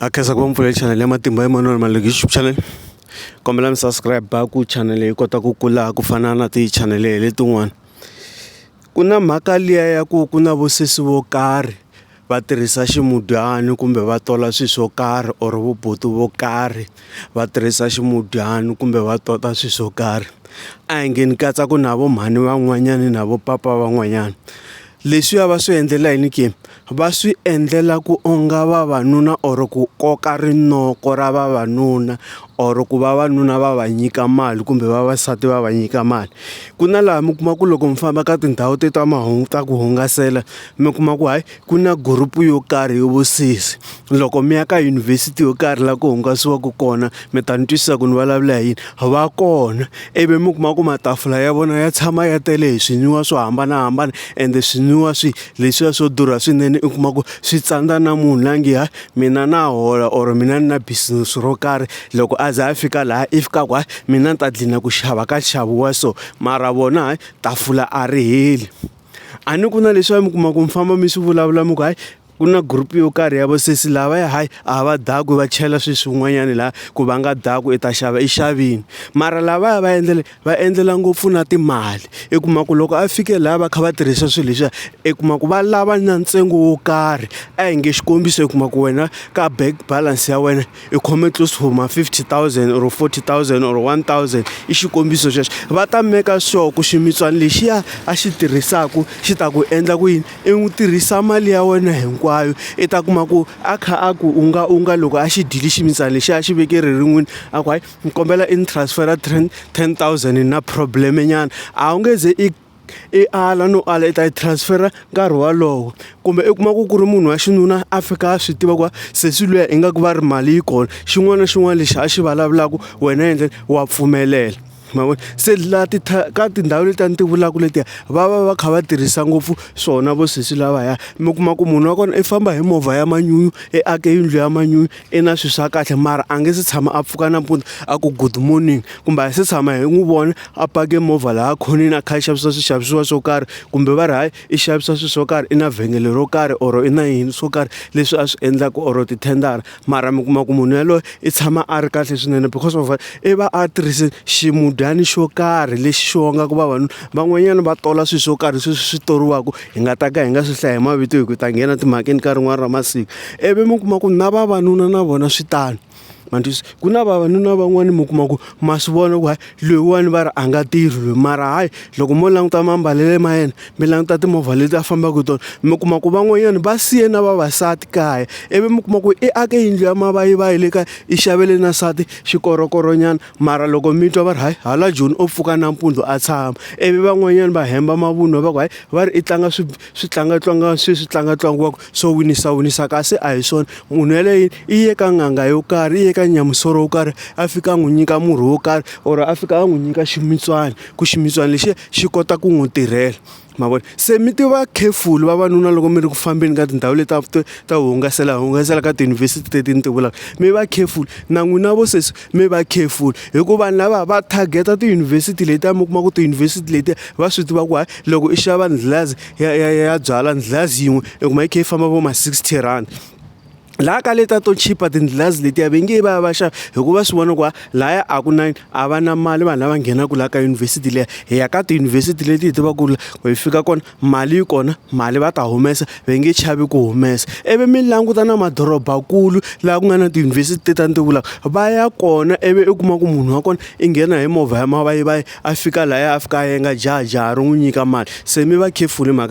a khensa ku va mpfulele channel ya matimba Emmanuel Maluleke YouTube channel kombela mi subscribe ku channel yi kota ku kula ku fana na ti-channel letin'wana ku na mhaka liya ya ku ku na vosesi vo karhi va tirhisa ximudyani kumbe va tola swilo swo karhi or vubuti vo karhi va tirhisa ximudyani kumbe va tota swilo swo karhi a hi nge ni katsa ku na vo mhani van'wanyani na vo papa van'wanyana leswiya va swi endlela yini ke. va swi endlela ku onga vavanuna or ku koka rinoko ra vavanuna or ku vavanuna va va nyika mali kumbe vavasati va va nyika mali, ku na laha mi kuma ku loko mi famba ka tindhawu te ta mahungu ta ku hungasela mi kuma ku hayi ku na group yo karhi yo vusesi loko mi ya ka yunivhesiti yo karhi laha ku hungasiwaka kona mi ta ni twisisa ku ni vulavula hi yini va kona ivi mi kuma ku matafula ya vona ya tshama ya tele hi swinwiwa swo hambanahambana ende swinwiwa swi leswiya swo durha swinene u kuma ku swi tsandza na munhu la nge hayi mina na hola or mina ni na business ro karhi loko a za a fika laha i fika ku hayi mina ni ta gcina ku xava ka nxavo wa so mara vona hayi tafula a ri heli a ni ku na leswiya mi kuma ku mi famba mi swi vulavula mi ku hayi. ku na group yo karhi ya vasesi lavaya hayi a va dakwi va chela swilo swin'wanyana laha ku va nga daku i ta xava i xavini mara lavaya va endlela va endlela ngopfu na timali i kuma ku loko a fike laha va kha va tirhisa swilo leswiya i kuma ku va lava na ntsengo wo karhi a hi nge xikombiso i kuma ku wena ka bank balance ya wena. i khome close to ma 50000 or 40000 or 1000 i xikombiso xexo va ta meka sure ku ximitswana lexiya a xi tirhisaka xi ta ku endla ku yini i n'wi tirhisa mali ya wena hinkwayo i ta kuma ku a kha a ku u nga u nga loko a xi dyile ximitsana lexi a xi veke ririn'wini a ku hayi ni kombela i ni transfera ten thousand na problem nyana a wu nge ze i i ala no ala i ta yi transfera nkarhi walowo kumbe i kuma ku ku ri munhu wa xinuna a fika a swi tiva ku sesi luya ingaku va ri mali yi kona xin'wana na xin'wana lexi a xi vulavulaka wena endle wa pfumelela ma vona se la ti ka tindhawu leti a ni ti vulaka letiya va va va kha va tirhisa ngopfu swona vo sesi lavaya mi kuma ku munhu wa kona i famba hi movha ya manyunyu i ake yindlu ya manyunyu. i na swilo swa kahle mara a nge se tshama a pfuka nampundzu a ku good morning kumbe a hi se tshama hi n'wi vona a pake movha laha khoneni a kha a xavisa swixavisiwa swo karhi kumbe va ri hayi i xavisa swilo swo karhi i na vhengele ro karhi or i na yini swo karhi leswi a swi endlaka or tithendara mara mi kuma ku munhu yaloye i tshama a ri kahle swinene because of i va a tirhise ximudyani xo karhi lexi xi vongaku vavanuna van'wanyana va tola swilo swo karhi sweswi swi toriwaka hi nga ta ka hi nga swi hlayi mavito hi ku ta nghena timhakeni ka rin'wana ra masiku ivi mi kuma ku na vavanuna na vona swi tano mandlisa ku na vavanuna van'wani mi kuma ku ma swi vona ku hayi loyiwani va ri a nga tirhi loyi mara hayi loko mo languta mambalele ma yena mi languta timovha leti a fambaka hi tona mi kuma ku van'wanyana va siye na vavasati kaya ivi mi kuma ku i ake yindlu ya mavayivayi le kaya i xavele na nsati xikorokoronyana mara loko mi twa va ri hayi hala joni o pfuka nampundzu a tshama ivi van'wanyana va hemba mavunwa va ku hayi va ri i tlanga swi swi tlangatlanga swi swi tlangatlangiwaka swo winisa winisa kasi a hi swona munhu yeleyo i ye ka n'anga yo karhi i ye ka nyamusoro wo karhi a fika a n'wi nyika murhi wo karhi or a fika a n'wi nyika ximitswana ku ximitswana lexiya xi kota ku n'wi tirhela. ma vona se mi tiva careful vavanuna loko mi ri ku fambeni ka tindhawu leti ta ta ta hungasela hungasela ka tiyunivhesiti teti ni ti vulaka mi va careful na n'wina vo sesi mi va careful hikuva vanhu lava va target-a tiyunivhesiti letiya mi kuma ku tiyunivhesiti letiya va swi tiva ku hayi loko i xava ndlilazi ya ya ya byala ndlilazi yin'we i kuma yi kha yi famba vo ma sixty rand. laha ka leta to chipa tindlilazi letiya ve nge va va xa hikuva swi vona ku va laya a ku na a va na mali vanhu lava nghenaka laha ka yunivhesiti leya hi ya ka tiyunivhesiti leti hi tivaka ku ri ku hi fika kona mali yi kona mali va ta humesa va nge chavi ku humesa ivi mi languta na madorobakulu laha ku nga na tiyunivhesiti te ta ni ti vulaka va ya kona ivi u kuma ku munhu wa kona i nghena hi movha ya mavayivayi a fika laya a fika a yenga jahajaha ri n'wi nyika mali se mi va careful hi mhaka.